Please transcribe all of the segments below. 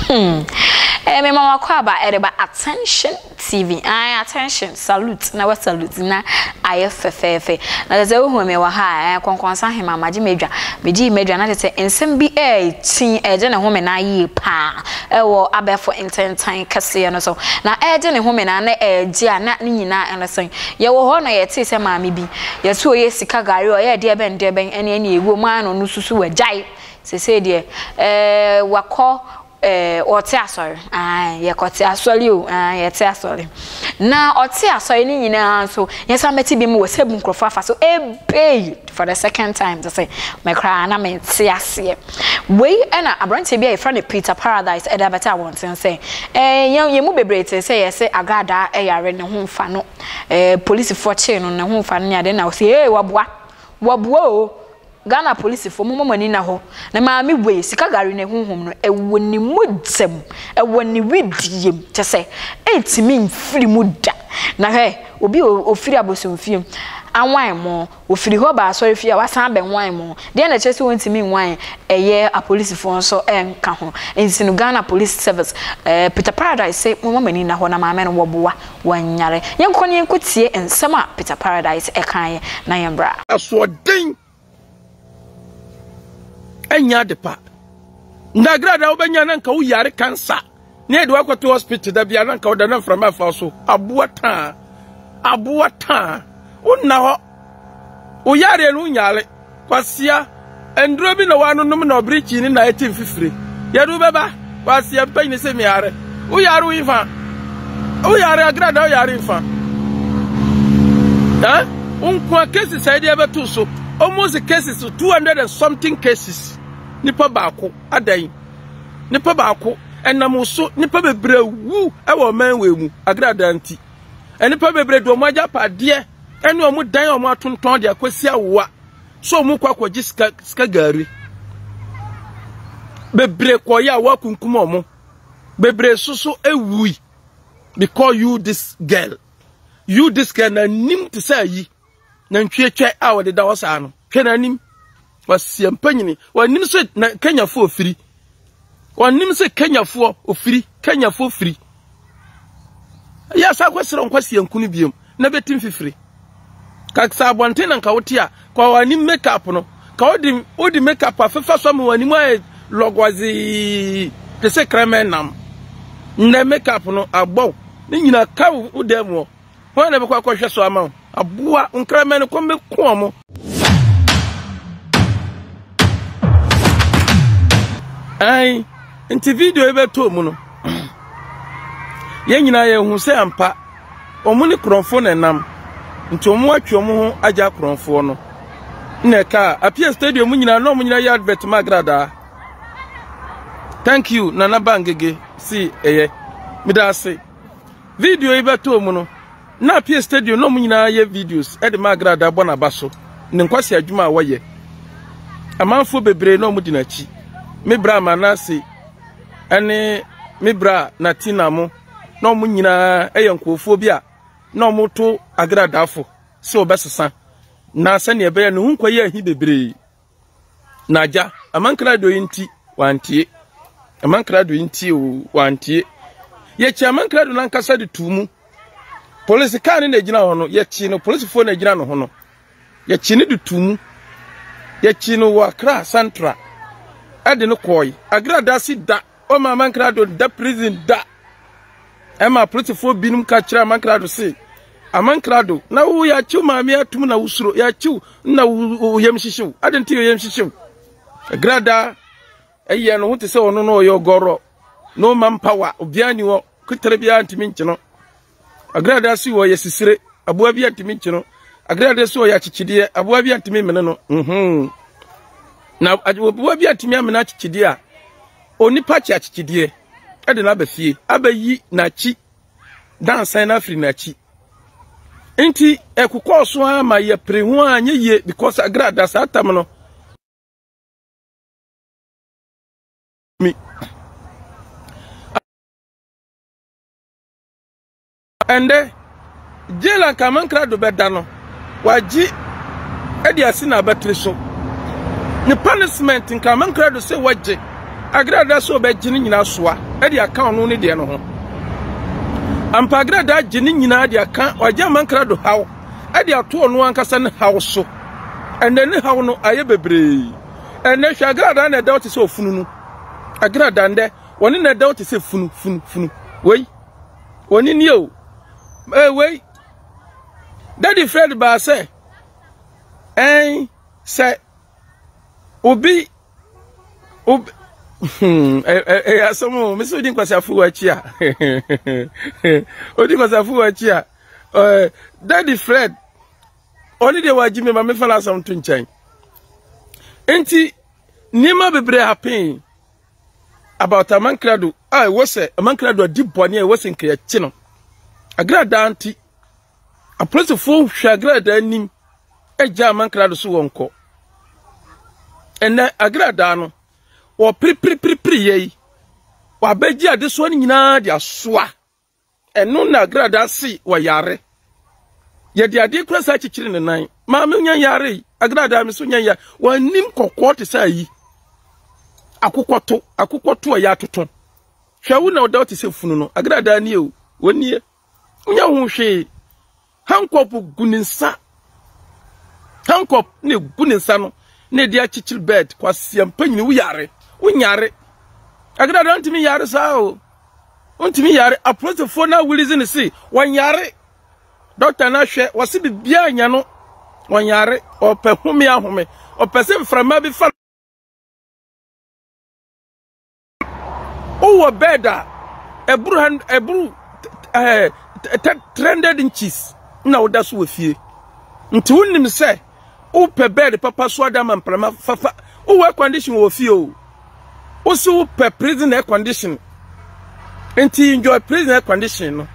Hmm. Eh, me mama kwaba ɛreba eh, attention tv I ah, attention salute na wa salute na ayɛ fɛfɛɛfɛ na kyɛ sɛ wohu me wɔ ha ɛɛ eh, kɔnkɔnsa hema magye m'adwa megye m'adwa na kyɛ sɛ nsɛm bi ɛɛkyin eh, ɛgye ne ho me na ayie paa wɔ abɛɛfo ntentan kɛseɛ no so, na ɛregye ne home no ara na ɛregye a na ne nyinaa no sɛn. Yɛwɔ hɔ na yɛtee sɛ maame bi, yɛse ɔyɛ sika gari, ɔyɛ deɛ bɛn deɛ bɛn ɛne ɛne ɛwɔ mu ara na ɔno nso so wagyae, seesei deɛ eh, wakɔ eh, ɔte asɔre, ae, yɛkɔte asɔre o, ae, yɛte asɔre. Na ɔte asɔre no nyinaa nso, yɛsan bɛte bi mu wɔ sɛ bu nkurɔfoɔ afa so, ebei! For the second time te sɛ me koraa na mente aseɛ. Wei na aberanteɛ bi a yɛfrɛ no Peter Paradise ɛde abɛte abɔnten sɛ eh, yɛn yɛn mu bebree te sɛ yɛse agradaa ɛyare ne ho mfa no eh, polisifoɔ kyee no ne ho mfa no ne adeɛ na ɔse ee waboa waboa o Ghana polisifoɔ momma mo ani na hɔ ne maame wei sika gari ne honhom no ɛwɔ ne mogya mu ɛwɔ ne wedeɛ mu kyɛ sɛ ɛntumi mfiri mu da na hwɛ Obi a ɔfiri abosomfie mu anwan mo, ɔfiri hɔ ba asɔrefie a wasan abɛnwan mo, deɛn na ɛkyerɛ sɛ wɔntumi nnwan ɛyɛ apolisifoɔ nso nka ho? Ɛnti no Ghana Police Service ɛɛ Peter Paradise se momma mo ani nna hɔ na maame no wɔboa wanyare. Yɛnkɔ na yɛnkɔtie nsɛm a Peter Paradise ɛkaeɛ na yɛmmra. Asoɔden ɛnyɛ ade pa ndagra da wobɛnya na nka woyare kansa na yɛde wakɔto hospital da bia na nka woda na mframa afa so aboa taa aboa taa wonna hɔ woyareɛ no wonyare kwasia nduro bi na wɔanonom na ɔbere kyini na ɛte mfifire yɛde wobɛba Kwasia mpanyin se me yare. Wo yare wo nfa. Wo yare agrada wo yare nfa. Eh? Wo nkoa cases a ɛde ɛbɛto so. Almost cases 200 and something cases. Nipa baako adan. Nipa baako ɛnam so nipa bebree wu ɛwɔ ɔman wei mu agrada nti. Nipa bebree de wɔn agya padeɛ ɛne wɔn dan wɔn atontɔn de akɔsi awoa. So ɔmo kɔ akɔgye sika sika gari bebree kɔyɛ a wɔakunkum ɔmo bebree soso ewui because you this girl you this girl na nim te sɛ ayi na ntwietwa a wɔde da hɔ saa no hwɛ na nim wasia mpanyini wɔnim sɛ na kenyafo ofiri Wɔnnim sɛ Kenyafoɔ ofiri, Kenyafoɔ firi. Ɛyɛ asa akɔsrɛ nkwasia nku no biom na bɛti mfifiri. Kaksa abɔnten na nka wote a, ka w'anim makeup no. Ka wode wode makeup afefa so ama w'anim ayɛ lɔgɔzee te sɛ krɛmɛ nam. Nnɛ makeup no abɔ ne nyina ka wo dan mu hɔ. Hwan na ɛbɛkɔ akɔhwɛ so ama wo? Aboa nkraman no kɔm bɛko ɔmo. Ɛn, nti video yi bɛtɔ mu no, yɛn nyinaa yɛhu sɛ ampa ɔmo ne korɔnfoɔ na ɛnam nti ɔmo atwe ɔmo ho agya korɔnfoɔ no na ɛka apia stadium nyinaa na ɔmo nyinaa yɛ advert ma agradaa thank you nana bangege si ɛyɛ meda ase Video yi bɛtɔɔ mu no, na Apia Stadium na wɔn nyinaa yɛ videos de ma Agra da bɔ n'aba so ne nkwasi adwuma a wɔyɛ. Amanfoɔ bebree na wɔdi n'akyi. Me bra Manase ne me bra Natina mo na wɔn nyinaa yɛ nkurɔfoɔ bi a na wɔto Agra dafo sɛ wɔbɛsesa na sɛnea ɛbɛyɛ ne ho nkwa yɛ ahi bebree. N'agya, ama nkrado yi nti wantie. Ama nkrado yi nti o wantie. Yɛkyi ama nkrado no ankasa de tu mu. Polisi kaa ne na egyina hɔ no, yɛkyi no polisifoɔ na egyina ne ho no. Yɛkyi ne de tu mu. Yɛkyi no wɔ Accra Central. Ɛde no kɔɔ yi. Agra da si da. Ɔma amankrado da prison da. Ɛma apolisifoɔ binom ka kyerɛ amankrado se, Amankrado, na wo yɛakyew maame atum na wosuro, yɛakyew na wo yam hyehyew. Adɛn nti yɛ yam hyehyew? Agrada ɛyɛ no ho te sɛ ɔno na ɔyɛ ɔgɔrɔ. No manpower, obiara ni hɔ, ketare biara ntumi nkye no. Agradaa so wɔ yɛ sisire, aboa bi antumi nkye no. Agradaa so wɔ yɛ akyekyedeɛ, aboa bi antumi mmene no. Mhm. Na aboa bi antumi amene akyekyedeɛ a, onipa kye akyekyedeɛ ɛde no aba fie, abɛyi n'akyi dansan no afiri n'akyi. Nti ɛkokɔɔ so ara ma yɛpere ho a nyɛ yie because agradaa saa tam no mi. Ɛndɛ, jail a nka mankra do bɛda no, ɔagye de asi n'abatiri so. Ne punishment nka mankra do sɛ ɔgye agradaa sɛ ɔbɛgye ne nyinaa soa de aka ɔno ne deɛ no ho. Ampa agradaa agye ne nyinaa de aka, ɔagye amankra do haw de ato ɔno ankasa ne haw so. Ɛndɛ ne haw no ayɛ bebree. Ɛndɛ hwɛ agradaa na ɛda hɔ te sɛ ɔfununu. Agradaa ndɛ Wɔne na ɛdɛw te sɛ funu funu funu. Wei. Wɔne nie o. Ee wei. Daddy Fred baa sɛ ɛn sɛ obi obi hmm, ɛyɛ asɛm o mesi odi nkwasafo wɔ akyi a odi nkwasafo wɔ akyi a eh, Daddy Fred ɔne deɛ wagye me ma mefa no asɛm to nkyɛn nti nneɛma bebree hapen about amankrado a ɛwɔ sɛ amankrado adi bɔne a ɛwɔ sɛ nkɛyɛkye no agradaa nti apolisifoɔ hwɛ agradaa anim agya amankrado so wɔn kɔ ɛnɛ agradaa no wɔpiripiripiripiri yɛ yi wɔabɛgye adesoa no nyinaa de asoa Ɛno na Agrada se wayare. Yɛde adeɛ kura saa kyekyere ne nan. Maame nya yare yi. Agrada me so nya yare. Wanim kɔkɔɔ te sɛ ayi. Akokɔto. Akokɔto a yɛatoto. Hwɛ wo na ɔda te sɛ funu no. Agrada nie o. Wɔnie. Nya ho hwee. Hancock gu ne nsa Hancock na egu ne nsa no na ɛde akyekyere bed kwasia mpanyini woyare wonyare agada da ntumi yare saa o ntumi yare apolisifoɔ na awulizi ne se wɔnyare dɔkta no ahwɛ wɔse biribiara nya no wɔnyare ɔpɛ home ahome ɔpɛ sɛ mframa bi fa Wowɔ bed a ɛboro han ɛboro ɛɛ three hundred inches na woda so wɔ fie. Nti wonim sɛ wopɛ bed papa so ada ma mprama fafa. Wowɔ air condition wɔ fie o. Wosi wopɛ prison air condition. Nti enjoy prison air condition no.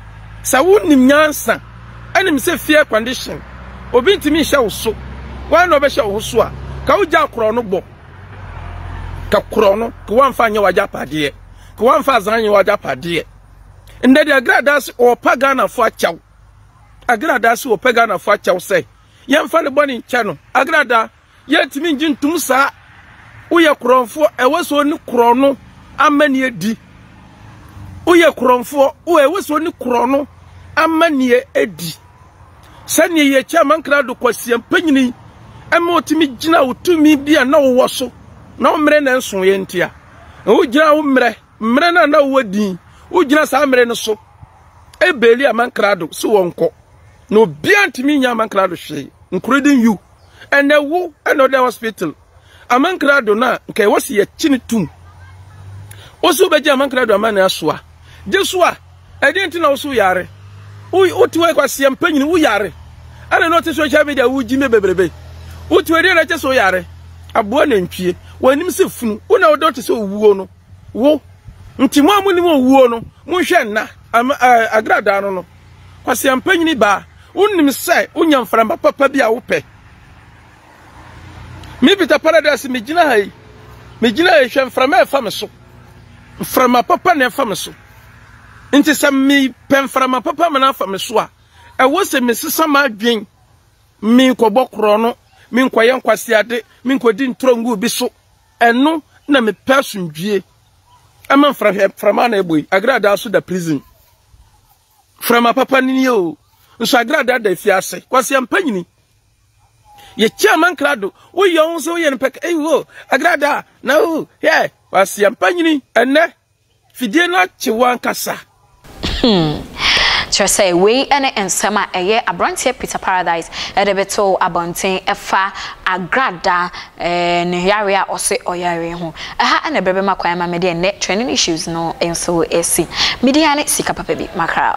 Sɛ wonim nyansa ɛnim sɛ fie air condition obi ntumi nhyɛ wo so. Wɔn na ɔbɛhyɛ wo ho so a ka wogya korɔ no bɔ. ka korɔ no ka wamfa anyɛ w'agyapadeɛ ka wamfa azan anyɛ w'agyapadeɛ ndɛ de agradaa se ɔɔpa ghanafoɔ akyɛw agradaa se ɔɔpɛ ghanafoɔ akyɛw sɛ yɛmfa ne bɔne nkyɛ no agradaa yɛntumi ngye ntom saa woyɛ korɔnfoɔ ɛwɔ sɛ ɔne korɔ no ama ne adi woyɛ korɔnfoɔ ɛwɔ sɛ ɔne korɔ no ama ne adi Sɛnea yɛ Chairman Krado Kwasi Ampanyini ɛma ɔtumi gyina wo tumi bi a na wowɔ so na mmerɛ na nsoeɛ nti a wogyina wo mmerɛ mmerɛ no a na wowɔ din wogyina saa mmerɛ no so ɛbɛli amankrado sɛ wɔnkɔ na obiara ntumi nya amankrado hwee including you ɛnɛ wo ɛna ɔda hospital Amankrado no a nka ɛwɔ se yɛkye no tum. Wo se wobɛgye amankrado ama ne asoa? Gye so a, ɛdeɛn nti na wo se woyare? Wote hɔ kwaseɛ mpanyini woyare. Ɛna na ɔte social media wogye me bebrebe. Wote hɔ ɛdeɛn na ɛkyɛ sɛ woyare? Aboa nantwie, w'anim sɛ funu, wo na wodɔ te sɛ owuo no. Wo. Nti mo a monim owuo no, monhwɛ nna agradaa no no. Kwaseɛ mpanyini baa, wonim sɛ wonya mframa papa bi a wopɛ. Me Peter Paradise me gyina ha yi. Me gyina ha yi hwɛ mframa a ɛfa me so. Mframa papa na ɛfa me so. Nti sɛ me pɛ mframa papa ma na afa me so a, ɛwɔ sɛ me sesa m'adwen. Me nkɔbɔ korɔ no, me nkɔyɛ nkwasiade, me nkɔdi ntorɔ ngu bi so. Ɛno na me pɛ asomdwie. Ɛma mframa na ɛbɔ yi. Agradaa so da prison. Frama papa no nie o. Nso agrada da fi ase. Kwasi ampa nyini. Ye chia man krado. Wo ye wo so ye npek. Ei wo. Agrada na wo. Yeah. Kwasi ampa nyini. Ene. Fidie no akye wankasa. Hmm. Kyerɛ sɛ wei ne nsɛm a ɛyɛ aberanteɛ Peter Paradise de bɛtoo abɔnten fa Agrada Ɛɛ ne yare a ɔse ɔyare ho. Ɛha na ɛberɛ bɛma kwan ma me deɛ nnɛ trending issues no nso asi. Me din ara ne sika papa bi, Mackerel.